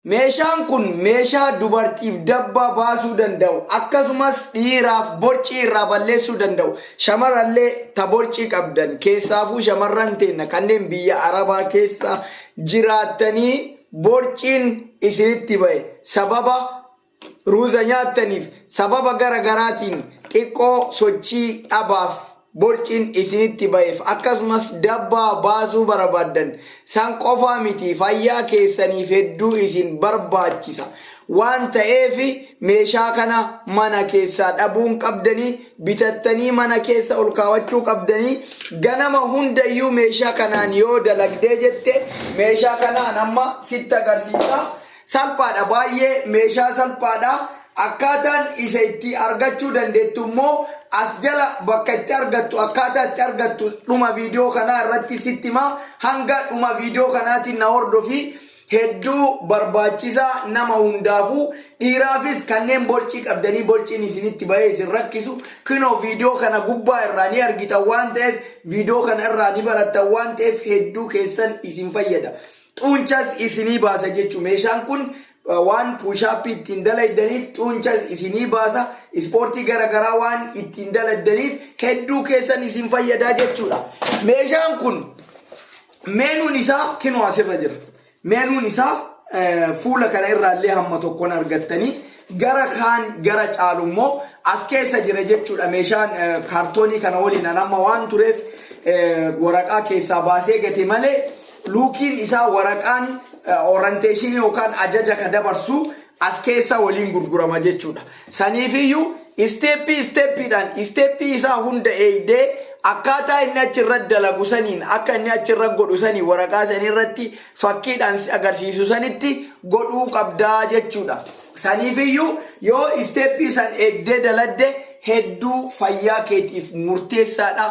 Meeshaan kun meeshaa dubartiif dabbaa baasuu danda'u akkasumas dhiiraaf borcii irraa balleessuu danda'u shamarallee ta borcii qabdan keessaafuu shamarran teenna kanneen biyya arabaa keessa jiraattanii borciin isinitti bahe sababa Ruuza nyaattaniif sababa gara garaatiin xiqqoo sochii dhabaaf borciin isinitti ba'eef akkasumas dabbaa baasuu barabaaddan san qofaa miti fayyaa keessaniif hedduu isin barbaachisa waan ta'eef meeshaa kana mana keessaa dhabuun qabdanii bitattanii mana keessa ol kaawachuu qabdanii ganama hundayyuu meeshaa kanaan yoo dalagdee jette meeshaa kanaan amma sitti agarsiisa Salphaadha baay'ee meeshaa salphaadha akkaataan isa itti argachuu dandeettu immoo as jala bakka itti argattu akkaataa itti argattu dhuma viidiyoo kanaa irratti sitti hima hanga dhuma viidiyoo kanaatiin na hordofi hedduu barbaachisaa nama hundaafuu dhiiraafis kanneen borcii qabdanii borciin isinitti bahee isin rakkisu kinoo viidiyoo kana gubbaa irraa ni argitan waan ta'eef viidiyoo kana irraa ni barattan waan ta'eef hedduu keessan isin fayyada Xuunchas isinii baasa jechu meeshaan kun waan puushaappii ittiin dalaydaniif xuunchas isinii baasa ispoortii gara garaa waan ittiin daladdaniif hedduu keessan isin fayyadaa jechuudha meeshaan kun meenuun isaa kinoo asirra jira meenuun isaa fuula kana irraa illee hamma tokkoon argattanii gara kaan gara caalu immoo as keessa jira jechuudha meeshaan kaartoonii kana waliin an amma waan tureef waraqaa keessaa baasee gate malee Luukiin isaa waraqaan oranteeshinii yookaan ajaja ka dabarsu as keessa waliin gurgurama jechuudha. Saniifiyyuu isteeppii isteeppiidhaan isteeppii isaa hunda eegdee akkaataa inni achi irratti dalagu saniin akka inni achi irra godhu sanii waraqaa sanii irratti fakkiidhaan si agarsiisu sanitti godhuu qabdaa jechuudha. Saniifiyyuu yoo isteeppii san eegdee daladde hedduu fayyaa keetiif murteessaadha.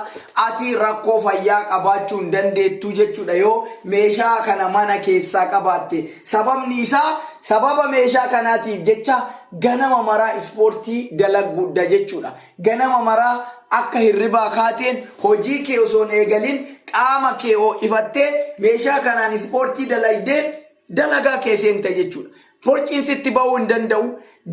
Ati rakkoo fayyaa qabaachuu hin dandeettu jechuudha yoo meeshaa kana mana keessaa qabaatte. Sababni isaa sababa meeshaa kanaatiif jecha ganama maraa ispoortii dalagguudha jechuudha. Ganama maraa akka hirribaa kaateen hojii kee osoo hin eegalin qaama kee ho'ifattee meeshaa kanaan ispoortii dalagdee dalagaa kee seentee jechuudha. Borciin sitti ba'uu hin danda'u,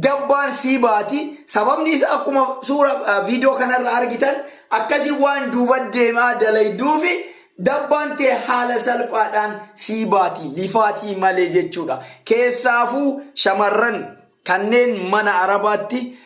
dabbaan sii baati. Sababni isaa akkuma suura eh, viidiyoo kanarra argitan akkasii waan duuba deemaa dalayduufi dabbaan tee haala salphaadhaan sii baati lifaatii malee jechuudha. Keessaafuu shamarran kanneen mana arabaatti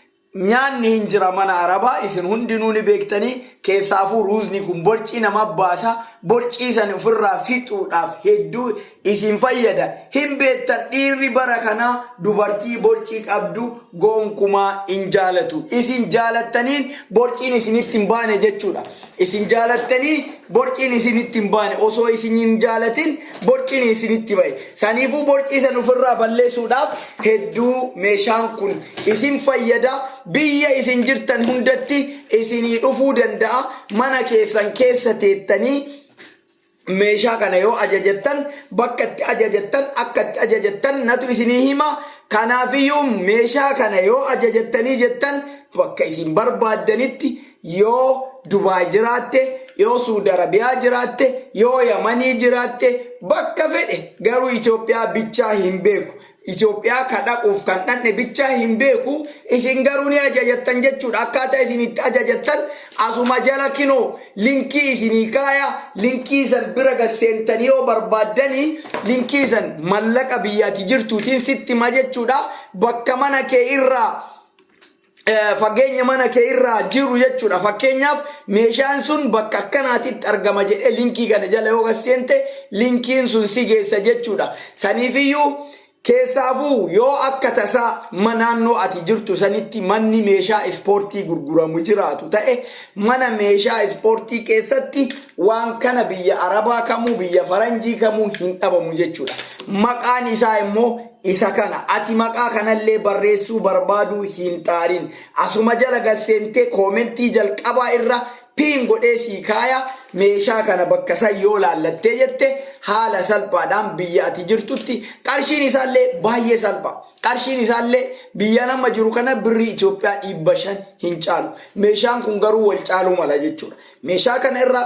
Nyaanni hin jira mana arabaa isin hundinuu ni beektanii keessaafuu ruuzni kun borcii nama baasa borcii san ofirraa fixuudhaaf hedduu isin fayyada hin beektan dhiirri bara kanaa dubartii borcii qabdu gonkumaa hin jaalatu isin jaalattaniin borciin isinitti hin baane jechuudha Isin jaalattanii borciin isinitti hin baane. Osoo isin hin jaalatin borciin isinitti ba'e. Saniifuu borcii san ofirraa balleessuudhaaf hedduu meeshaan kun isin fayyada. Biyya isin jirtan hundatti isinii dhufuu danda'a. Mana keessan keessa teettanii meeshaa kana yoo ajajattan bakka itti ajajattan akka itti ajajattan natu isinii hima kanaafiyyuu meeshaa kana yoo ajajattanii jettan bakka isin barbaaddanitti yoo dubaay jiraatte yoo suudi arabiyaa jiraatte yoo yamanii jiraatte bakka fedhe garuu itoophiyaa bichaa hin beeku Itoophiyaa ka dhaquuf kan dhandhe bichaa hin beeku, isin garuu ni ajajattan jechuudha. Akkaataa isin itti ajajattan asuma jala kinoo linkii isinii kaaya, linkii san bira gad seentanii yoo barbaaddani linkii san mallaqa biyya ati jirtuutiin sitti hima jechuudha. Bakka mana kee irraa fageenya mana kee irraa jiru jechuudha. Fakkeenyaaf meeshaan sun bakka akkanaatitti argama jedhee linkii kana jala yoo seente linkiin sun si geessa jechuudha. Saniifiyyuu keessaafuu yoo akka tasaa ma naannoo ati jirtu sanitti manni meeshaa ispoortii gurguramu jiraatu ta'e mana meeshaa ispoortii keessatti waan kana biyya arabaa kamuu biyya faranjii kamuu hin dhabamu jechuudha. Maqaan isaa immoo isa kana. Ati maqaa kanallee barreessuu barbaaduu hin xaarin. Asuma jala gad seentee koomentii jalqabaa irra pin godhee sii kaaya, meeshaa kana bakka san yoo laallattee jette haala salphaadhaan biyya ati jirtutti qarshiin isaallee baay'ee salpha. Qarshiin isaallee biyyan amma jiru kana birrii Itoophiyaa 500 hin caalu. Meeshaan kun garuu wal caaluu mala jechuudha. Meeshaa kana irra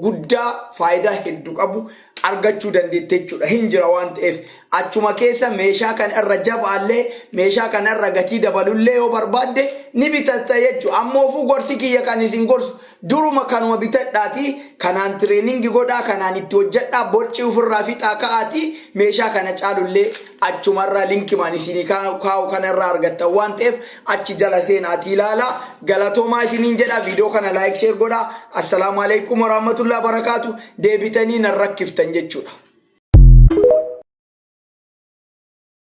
guddaa faayidaa heddu qabu argachuu dandeette jechuudha hin jira waan ta'eef achuma keessa meeshaa kana irra jabaallee meeshaa kana irra gatii dabalullee yoo barbaadde ni bitatta jechuudha ammoofuu gorsi kiyya kan isin gorsu duruma kanuma bitadhaatii kanaan tireeningi godhaa kanaan itti hojjedhaa borcii ofirraa fixaa ka'aatii meeshaa kana caalullee achumarraa linkimaan isinii kaa'u kanarraa argattan waan ta'eef achi jala seena ati ilaala galatomaa isiniin jedha video kana like share godha assalaamu alaikum warahmatullahi barakaatu deebitanii nan rakkiftan jechuudha